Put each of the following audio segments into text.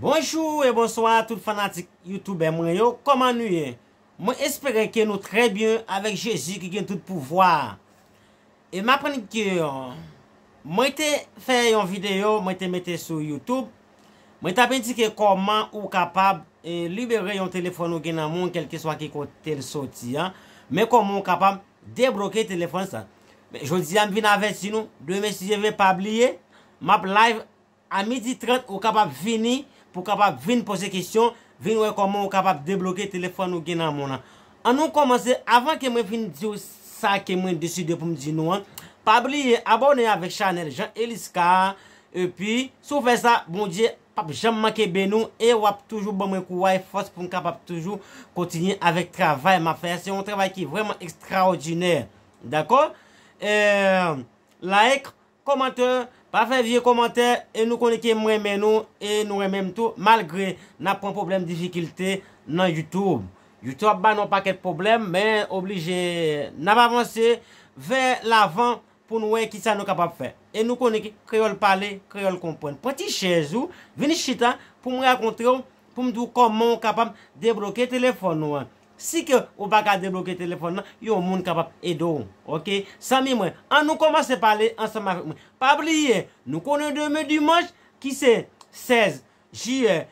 Bonjou e bonswa tout fanatik youtube mwen yo, kòman nou ye? Mwen espere ke nou trè byen avèk Jezi ki gen tout pouvwa a. M aprann ke Mwen te fè yon video mwen te mete sou YouTube mwen tap endike kòman ou kapab libere yon telefòn ou gen nan men w kelkeswa ki kote l soti an men kòman ou kapab debloke telefòn sa jodi a m vin avèti nou demen si Dye vle pa bliye map live A midi 30 ou kapab vini pou kapab vin poze kesyon, vin wè kòman ou kapab debloke telefòn ou gen nan men w lan. An nou kòmanse, avan ke mwen fin di w sa ke mwen deside pou m di nou an, pa bliye abòne avèk chanèl Jean Elisca a, epi, si w fè sa, Bondye pap janm manke beni w e w ap toujou ban mwen kouray, fòs pou m kapab toujou kontinye avèk travay m ap fè a, se yon travay ki vrèman ekstraòdinè. Dakò? Eee, like, Komantè, pa fè vye komantè e nou konnen ke m renmen nou e nou renmen m tou malgre n ap pran pwoblèm difikilte nan youtube. Youtube ap ba nou yon pakèt pwoblèm men oblije n ap avanse vè lavan pou n wè kisa nou kapab fè. E nou konnen ke kreyòl pale, kreyòl konprann. Pran ti chèz ou, vin chita pou m rakontre w, pou m di w kòman w kapab debloke telefòn ou an. Si ke ou pa ka debloke telefòn nan, yon moun kapab ede w. Ok. Zanmi mwen, an nou kòmanse pale ansanm avèk mwen. Pa bliye, nou konnen demen dimanch, ki se 16 jiyè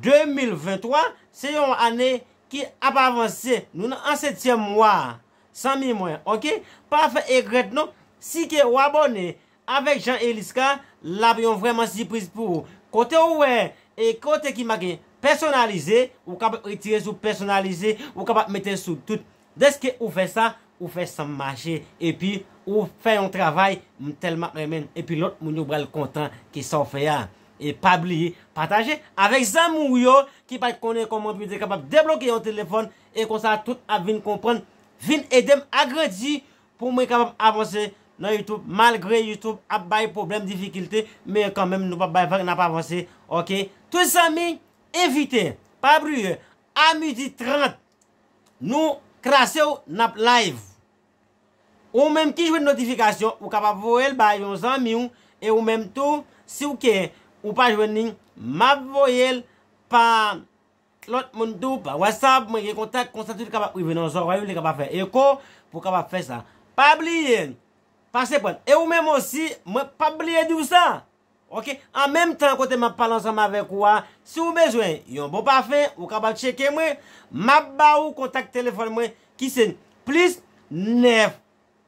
2023, se yon ane ki ap avanse. Nou nan an setyèm mwa a. Zanmi mwen, ok. Pa fè egrèt non. Si ke ou abòne Avek jan Elice ka lap yon vreman sipriz pou ou kote ou we e kote ki make personalize ou kapab retire sou personalize ou kapab mete sou tout deske ou fe sa ou fe sanm mache epi ou fe yon travay m telman renmen epi lot moun yo pral kontan ke sa ou fe a e pa bliye pataje avek zanmi ou yo ki pat konnen koman pou yo te kapab debloke yon telefon e konsa tout ap vin konprann vin edem agrandi Pou mwen kapab avanse nan YouTube malgre YouTube ap bay pwoblèm difikilte men kanmenm nou pap bay vag nap avanse ok tout zanmi envite pa bliye a midi 30 nou klasew nap live ou menm ki jwenn notifikasyon ou kapab voyel ba yon zanmiw e ou menm tou siw ke ou pa jwenn li map voyel pa Lòt moun tou pa wè sa, mwen gen kontak konsa tout kapab rive nan zòrèy ou li kapab fè eko pou w kapab fè sa. Pa bliye pase prann e ou menm osi mwen pap bliye di w sa ok an menm tan kote map pale ansanm avèk ou a si w bezwen yon bon pafen ou kapab tcheke mwen map ba ou kontak telefòn mwen ki se plis 9.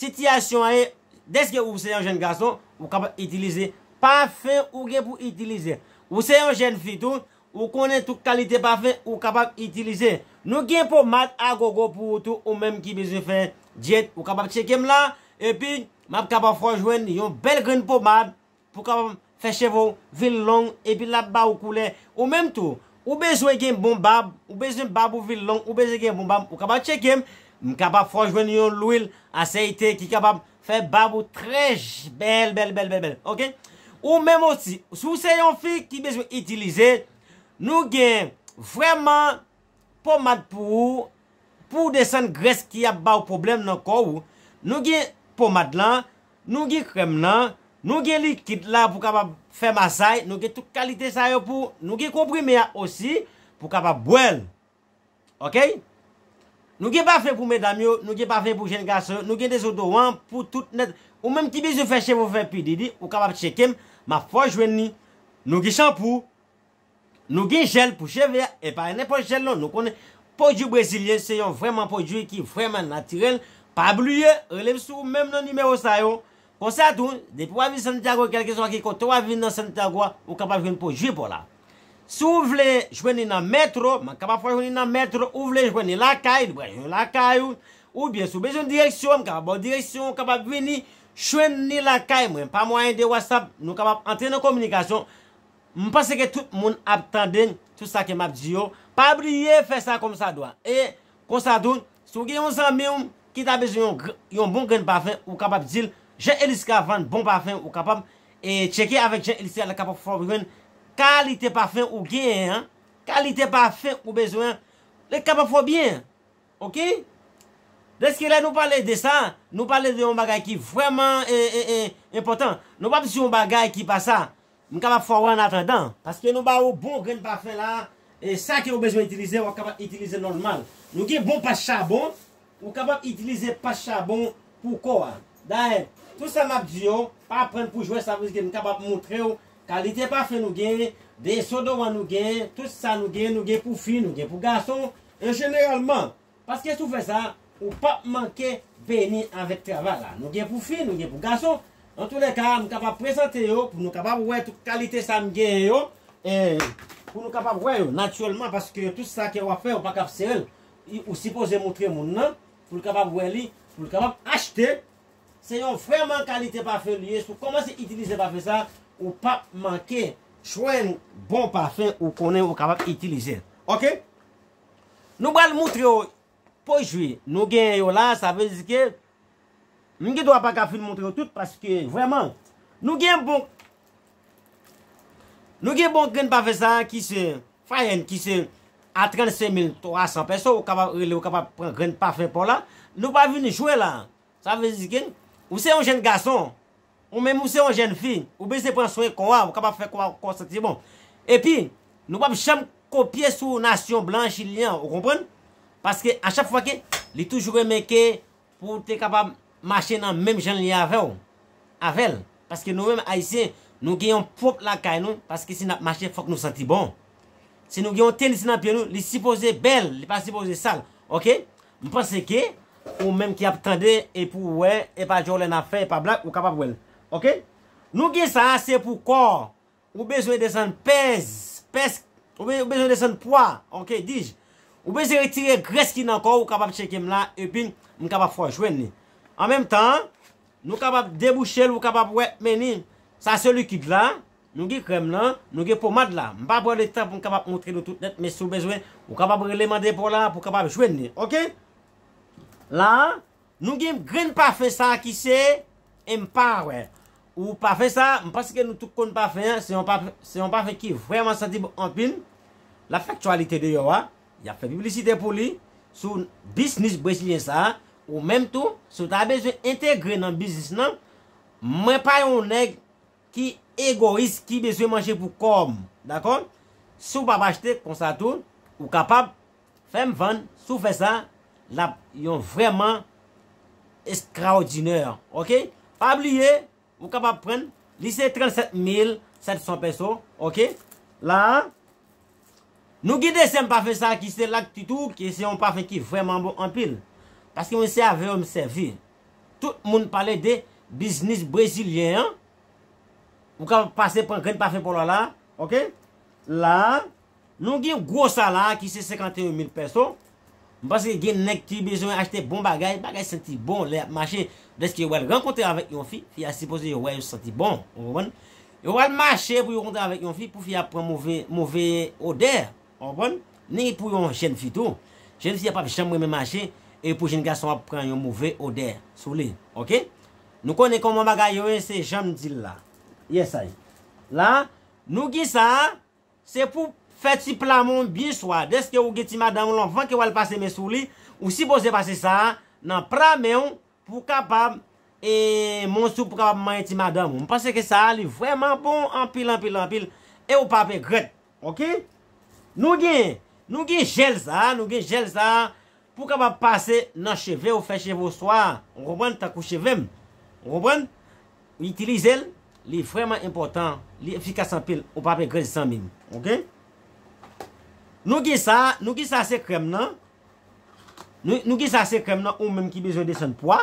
Sitiyasyon an e, Dèske ou se yon jèn gason, ou kapab itilize pafen ou gen pou itilize. Ou se yon jèn fi tou, ou konnen tout kalite pafen ou kapab itilize. Nou gen pomad agogo pou ou tou ou menm ki bezwen fè dyèt ou kapab tcheke m la, epi m ap kapab fè w jwenn yon bèl grenn pomad Pou kapab fè cheve w vin long epi l ap ba ou koulè ou menm tou. Ou bezwen gen bon bab, ou bezwen bab ou vin long, ou bezwen gen bon bab, ou kapab tcheke m, m kapab fè w jwenn yon lwil asèyte ki kapab fè bab ou trè bèl bèl bèl bèl bèl ok. Ou menm osi si w se yon fi ki bezwen itilize, nou gen vrèman pomad pou ou, pou w desann grès ki ap ba w pwoblèm nan kò ou, nou gen pomad lan, Nou gen krèm lan, nou gen likid la pou kapab fè masay, nou gen tout kalite sa yo pou, nou gen konprime a osi pou kapab bwè l. Ok. Nou gen pafen pou medam yo, nou gen pafen pou jenn gason yo, nou gen dezodoran pou tout nèt. Ou menm ki bezwen fè cheve ou fè pi didi, ou kapab tcheke m, m ap fè w jwenn li. Nou gen chanpou, Nou gen jèl pou cheve a, e pa nenpòt jèl non, nou konnen pwodui brezilyen se yon vrèman pwodui ki vrèman natirèl, pa bliye rele m sou menm nan nimewo sa yo, konsa tou depi wap vin Santiago kèlkeswa ki kote wap vin nan Santiago a ou kapab jwenn pwodui paw la. Si w vle jwenn li nan metro, m kapab fè w jwenn li nan metro, ou vle jwenn li lakay, li pral jwenn lakay ou, oubyen si w bezwen direksyon, m kapab ba w direksyon ou kapab vini jwenn li lakay mwen pa mwayen de WhatsApp, nou kapab antre nan kominikasyon, M panse ke tout moun ap tande tout sa ke m ap di yo, pa bliye fè sa kòmsadwa. E, konsa tou, si w gen yon zanmi w ki ta bezwen yon gr, yon bon grenn pafen, ou kapab di l, Jean Elisca vann bon pafen, ou kapab, e, tcheke avèk Jean Elisca l kapab fè w jwenn kalite pafen ou genyen an, kalite pafen ou bezwen an, li kapab fè w byen. Ok? Dèske lè nou pale de sa, nou pale de yon bagay ki vrèman, e, e, e, enpòtan. Nou p ap di yon bagay ki pa sa. M kapab fè w an atandan. Paske nou ba ou bon grenn pafen la e sa ke ou bezwen itilize wap kapab itilize nòlmal. Nou gen bon pach chabon, ou kapab itilize pach chabon pou kò a. Dayè, tout sa map di yo, pa prann pou jwè sa vle di ke m kapab montre w kalite pafen nou gen, desodoran nou gen, tout sa nou gen, nou gen pou fi, nou gen pou gason, e jeneralman Paske si w fè sa, ou pap manke beni avèk travay la. Nou gen pou fi, nou gen pou gason. Antoulèka, m kapab prezante yo pou nou kapab wè tout kalite sa m genyen yo. E pou nou kapab wè yo natirèlman paske tout sa ke w ap fè ou pa kab sere l. Ou sipoze moutre moun nan pou l kapab wè li, pou l kapab achte. Se yon vrèman kalite pafen li ye. Si w kòmanse itilize pafen sa, ou pap manke jwenn bon pafen ou konnen ou kapab itilize. Ok! Nou pral moutre w po jwi nou genyen yo la, sa vle di ke m gen dwa pa ka fin moutre w tout paske vrèman nou gen bon nou gen bon grenn pafe sa a ki se fayenn ki se a 35300 pèso ou kapab rele ou kapab pran grenn pafe pa w la, nou pa vin jwe la sa vle di ke ou se yon jenn gason Ou menm ou se yon jèn fi, ou bezwen pran swen kò a, ou kapab fè kò a kò santi bon. Epi, nou pap janm kopye sou nasyon blan chilyen an, ou konprann? Paske a chak fwa ke, li toujou renmen ke pou w te kapab mache nan menm jan l ye avè w, avè l. Paske nou menm Ayisyen, nou gen yon pwòp lakay nou, paske si n ap mache fòk nou santi bon. Si nou gen yon tenis nan pye nou, li sipoze bèl, li pa sipoze sal. Ok? M panse ke ou menm ki ap tande e pou w wè e pa jolene ap fè e pa black ou kapab wè l ok nou gen sa a se pou kò ou bezwen desann pèz pèsk ou bezwen desann pwa ok dij ou bezwen retire grès ki nan kò ou kapab tcheke m la epin m kapab fè w jwenn li an menm tan nou kapab debouche l ou kapab wè men ni sa se likid la. Nou gen krèm lan, nou gen pomad la. M pa pran le tan pou m kapab montre nou tout nèt men si w bezwen, ou kapab rele mande pou w la pou w kapab jwenn li. Ok. La a, nou gen grenn pafen sa a ki se Empower. Ou pafen sa a, m panse ke nou tout konn pafen an, se yon pafen, se yon pafen ki vrèman santi bon anpil. L ap fè aktyalite deyò a, y ap fè piblisite pou li sou bisnis brezilyen sa a. Ou menm tou, si w ta bezwen entegre nan biznis lan, mwen pa yon nèg ki egoyis ki bezwen manje pou kòm dakò si w pap achte konsa tou ou kapab fèm vann si w fè sa lap yon vrèman estraodinè ok pa bliye ou kapab prann li se 37 mil 700 pèso ok la a nou gen dezyèm pafen sa ki se lak tutu ki se yon pafen ki vrèman bon anpil paske mwen se avè yo m sèvi Tout moun pale de biznis brezilyen an. Ou kapab pase pran grenn pafen pa w la la a. Ok. La a, nou gen gwo sa la a ki se 51 mil pèso. M panse gen nèg ki bezwen achte bon bagay, bagay santi bon lè y ap mache. Dèske yo pral rankontre avèk yon fi, fi a sipoze yo wè yo santi bon. Ou konprann? Yo pral mache pou yo rankontre avèk yon fi pou fi a pran move, move odè. Ou konprann? Ni pou yon jèn fi tou. Jèn fi a pap janm renmen mache e pou jèn gason ap pran yon move odè sou li. Ok? Nou konnen kòman bagay yo ye se janm di l la. Yes ay. La, nou gen sa a, se pou fè ti pla men w byen swa. Dèske ou gen ti madanm ou anvan ke w al pase men sou li, ou sipoze pase sa a nan pra men w pou w kapab e men w sou pou w kapab manyen ti madanm ou. M panse ke sa a li vrèman bon anpil anpil anpil e ou pap regrèt. Ok Nou gen Nou gen jel sa Nou gen jel sa Pou kapab pase nan cheve ou fè cheve ou swa Ou konprann tankou chevem Ou konprann Itilizel Li vreman enpotan Li efikas anpil Ou pap egret zanmim Ok Nou gen sa Nou gen sa se krem nan Nou gen sa se krem nan ou menm ki bezwen desann pwa.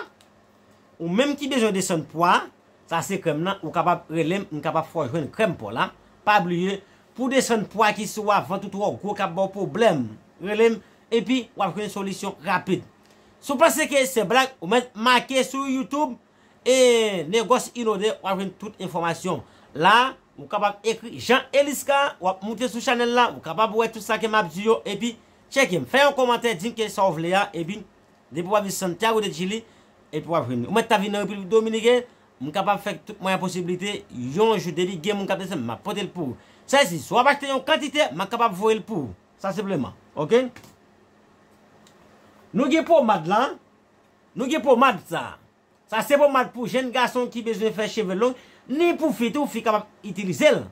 Ou menm ki bezwen desann pwa, sa se krèm nan, ou kapab relem m kapab fè w jwenn krèm paw la, pa bliye pou w desann pwa ki sou a vant ou twò gwo kap baw pwoblèm, relem epi wap jwenn solisyon rapid. Si w panse ke se blag ou mèt make sou YouTube e Negòs Inode wap jwenn tout enfòmasyon la, ou kapab ekri Jean Elisca wap moute sou chanèl la ou kapab wè tout sa ke map di yo epi tcheke m, fè yon kòmantè di m ke sa w vle a epi Depi wap di Santiago de Chili epi wap vini. Ou mèt ta vini nan Repiblik Dominiken, m kapab fè tout mwayen posibilite yon jou depi gen moun kap desann m map pote l pou ou. Sa vle di si wap achte yon kantite ma kapab voye l pou ou. Sa senpleman. Ok. Nou gen pomad la, nou gen pomad sa. Sa se pomad pou jenn gason ki bezwen fè cheve long, ni pou fi tou, fi kapab itilize l.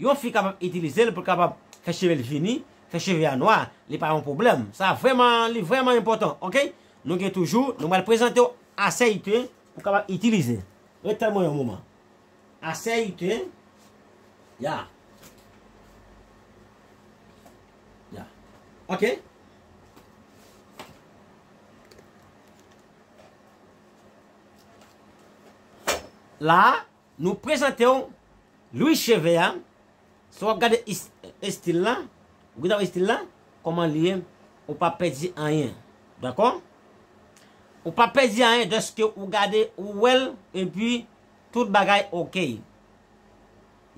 Yon fi kapab itilize l pou l kapab fè cheve l vini, fè cheve a nwa, li pa yon pwoblèm. Sa vrèman, li vrèman enpòtan, ok. Nou gen toujou, nou pral prezante w asèyite pou w kapab itilize. Ret tann mwen yon moman. Asèyite, ya. Ya. Ok. La a, nou prezante w Louis Cheve a. Si w ap gade estil la, ou gade estil la, kòman li ye, ou pa pèdi anyen. Dakò? Ou pa pèdi anyen dèske ou gade, ou wè l, epi tout bagay okey.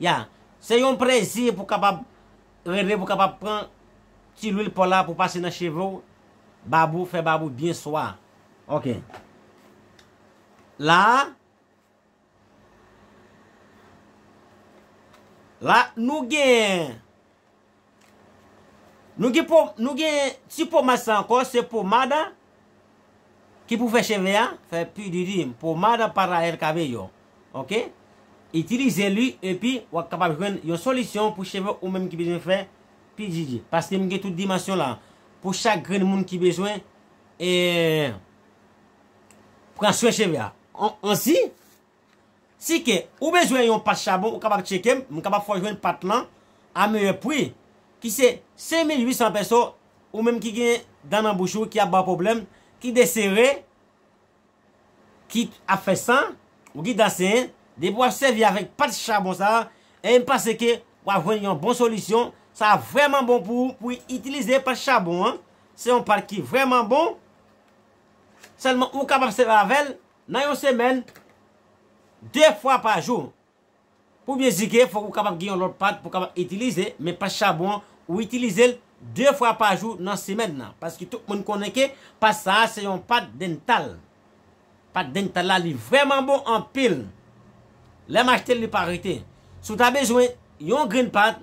Ya. Se yon plezi pou kapab rele, pou kapab pran ti lwil paw la pou pase nan cheve w, Babou fè babou byen swa. Ok. La a. La nou gen. Nou gen po nou gen ti pomad sa ankò se pomad a ki pou fè cheve a fè pi diri pomada para el cabello ok itilize li epi wap kapab jwenn yon solisyon pou cheve ou menm ki bezwen fè PDD, paske m gen tout dimansyon la, pou chak grenn moun ki bezwen pran swen cheve a. Ansi, si ke ou bezwen yon pat chabon ou kapab tcheke m, m kapab fè w jwenn pat lan a meyè pri, ki se 5800 pèso, ou menm ki gen dan nan bouch ou ki ap ba w pwoblèm, ki desere, ki ap fè san ou ki ta sen depi wap sèvi avèk pat chabon sa em panse ke wap jwenn yon bon solisyon sa vrèman bon pou ou pou itilize pat chabon an se yon pat ki vrèman bon sèlman ou kapab sèvi avèl nan yon semèn 2 fwa pa jou. Pou byen zige fòk ou kapab gen yon lòt pat pou kapab itilize men pat chabon an ou itilize l 2 fwa pa jou nan semèn nan paske tout moun konnen ke pat sa a se yon pat dental pat dental la li vrèman bon anpil lè m achte l li pa rete si w ta bezwen yon grenn pat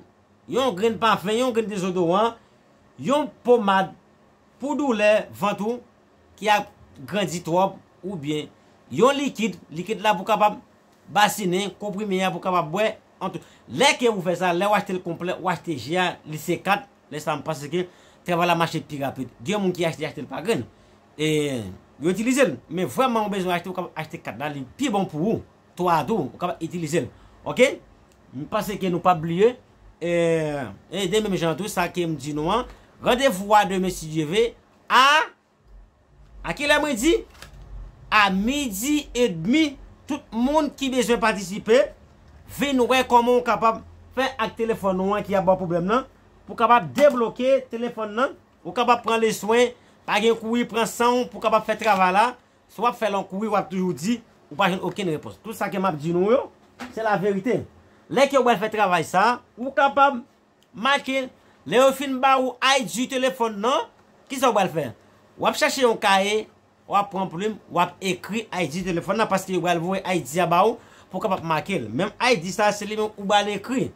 yon grenn pafen yon grenn dezodoran yon pomad pou doulè vant ou ki ap grandi twòp oubyen yon likid likid la pou kapab Basinen, konprime a pou kapab bwè, ant Lè ke ou fè sa, lè ou achte l konplè, ou achte je a, li se 4, lè sa m panse ke travay la mache pi rapid. Gen moun ki achte achte l pa grenn. E yo itilize l. Men vrèman ou bezwen achte, ou kapab achte 4 la, li pi bon pou ou. 3 a tou, ou kapab itilize l. Ok? M panse ke nou pap bliye. E demen menm jan an tou, sa ke m di nou an, randevou a demen si Dye ve, a. A kilè mwen di? A midi e demi tout moun ki bezwen patisipe vin wè kòman ou kapab fè ak telefòn ou an ki ap ba w pwoblèm lan pou kapab debloke telefòn lan ou kapab pran leswen pa gen kouri pran san w pou kapab fè travay la si w ap fè l an kouri w ap toujou di ou pa jwenn okenn repons tout sa ke m ap di nou yo se laverite lè ke w al fè travay sa ou kapab Make, Lè yo fin ba ou ID telefòn nan, ki sa ou pral fè? W ap chache yon kaye, w ap pran plim, w ap ekri ID telefòn nan paske yo pral voye ID a ba ou pou w kapab make l. Menm ID sa a se li menm ou pral ekri.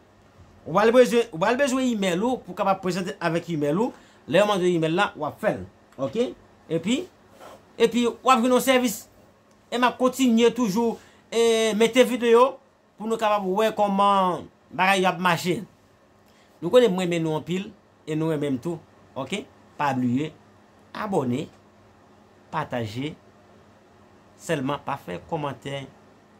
Ou pral bezwen, ou pral bezwen imèl ou pou w kapab prezante avèk imèl ou. Lè yo mande w imèl la, w ap fè l. Ok. Epi, epi w ap jwenn yon sèvis. E m ap kontinye toujou e mete videyo. pou nou kapab wè kòman bagay yo ap mache nou konnen mwen renmen nou anpil e nou renmen m tou ok pa bliye abòne pataje sèlman pa fè kòmantè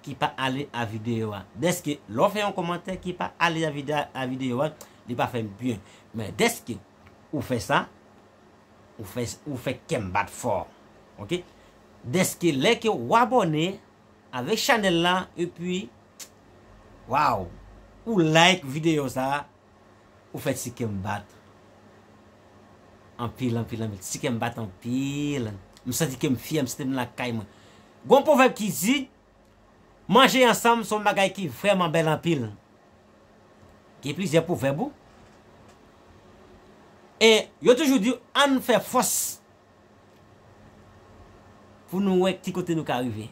ki pa ale a videyo a dèske lè w fè yon kòmantè ki pa ale a videyo a li pa fè m byen men dèske ou fè sa ou fè kè m bat fò ok dèske lè ke w abòne Avek chanel la epi waw ou like video sa ou fè ti kèm bat anpil anpil anpil ti kèm bat anpil m santi kèm fyè m santi m lakay mwen gon pwovèb ki di manje ansanm son bagay ki vrèman bèl anpil gen plizyè pwovèb ou e yo toujou di ann fè fòs Pou nou wè ki kote nou ka rive.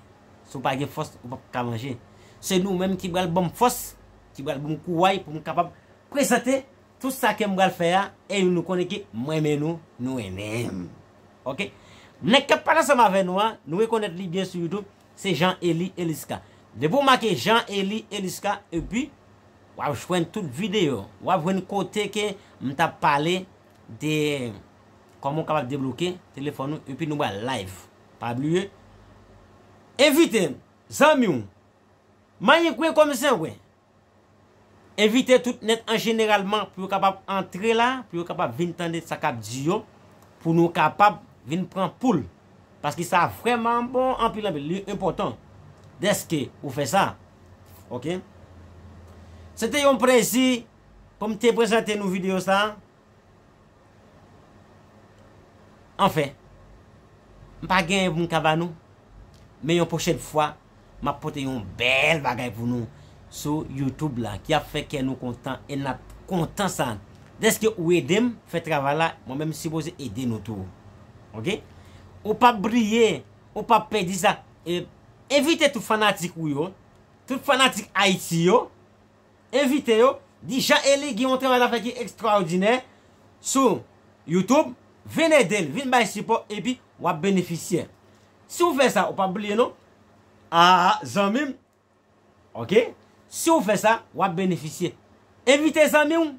Si w pa gen fòs, ou pap ka manje. Se nou menm ki pral ban m fòs, ki pral ban m kouray pou m kapab prezante tout sa ke m pral fè a e nou konnen ke m renmen nou, nou renmen m. Ok. Nèg k ap pale ansanm avè nou an, nou rekonèt li byen sou YouTube, se Jean Elie Elisca. Depi w make Jean Elie Elisca epi w ap jwenn tout videyo, w ap jwenn kote ke m t ap pale. De Koman ou kapab debloke telefòn ou epi nou bal live pa bliye envite zanmiw manyen kwen kòm zengwen envite tout nèt an jeneralman pou yo kapab antre la pou yo kapab vin tande sa kap di yo pou nou kapab vin pran poul paske sa vrèman bon anpil anpil li enpòtan dèske ou fè sa ok se te yon plezi Pou m te prezante nou video sa. Anfen. M pa genyen pou m ka ba nou. Men yon pwochèn fwa, m ap pote yon bèl bagay pou nou sou YouTube la ki ap fè kè nou kontan e n ap kontan sa. Dèske ou ede m fè travay la, mwen menm m sipoze ede nou tou. Ok? Ou pap briye, ou pap pèdi sa. Envite tout fanatik ou yo, tout fanatik Ayiti yo. envite yo, di Jean Elie gen yon travay lap fè ki ekstraòdinè sou YouTube, vin ede l, vin bay sipò epi wap benefisyè. Si w fè sa, ou pap bliye non. Aa zanmi m. Ok, si w fè sa, wap benefisyè. Envite zanmi w.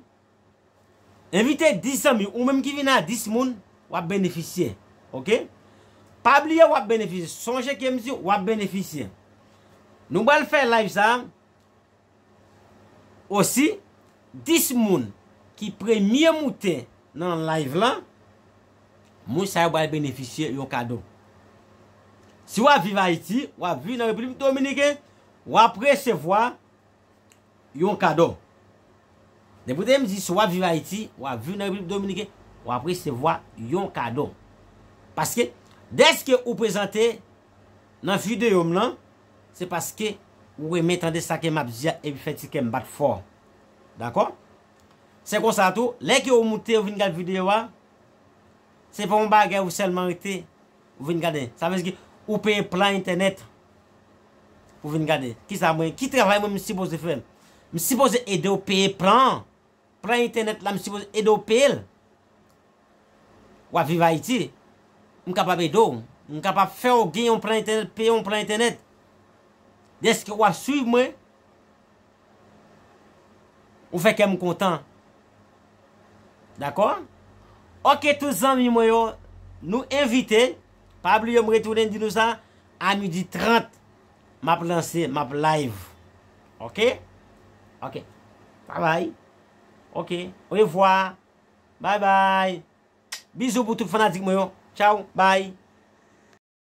Envite 10 zanmi w, ou menm ki vin a 10 moun, wap benefisyè. Ok, pa bliye wap benefisyè. Sonje ke m di w, wap benefisyè. Nou pral fè live sa. Osi, 10 moun ki premye moute nan live la, moun sa yo pral benefisye yon kado. Si wap viv Ayiti, wap viv nan Repiblik Dominiken, wap resevwa yon kado. Depi w tande m di si wap viv Ayiti, wap viv nan Repiblik Dominiken, wap resevwa yon kado. Paske, dèske ou prezante nan video m lan se paske ou renmen tande sa ke map di a epi fè ti kè m bat fò dakò se konsa tou lè ke ou moute ou vin gad video a se pa yon bagay ou sèlman rete ou vin gade sa vle di ke ou peye plan entènèt pou vin gade kisa mwen ki travay mwen m sipoze fè m sipoze ede ou peye plan an. Plan internet la m sipoze ede w peye l? Wap viv Ayiti? M kapab ede w? M kapab fè w gen yon plan entènèt, peye yon plan entènèt? Dèske wap swiv mwen, ou fè kè m kontan. Dakò? Ok tout zanmi mwen yo, nou envite, pa bliye m retounen di nou sa, a midi 30. Map lanse map live ok ok bye bye ok orevwa bye bye bizou pou tout fanatik mwen yo tchaww bye.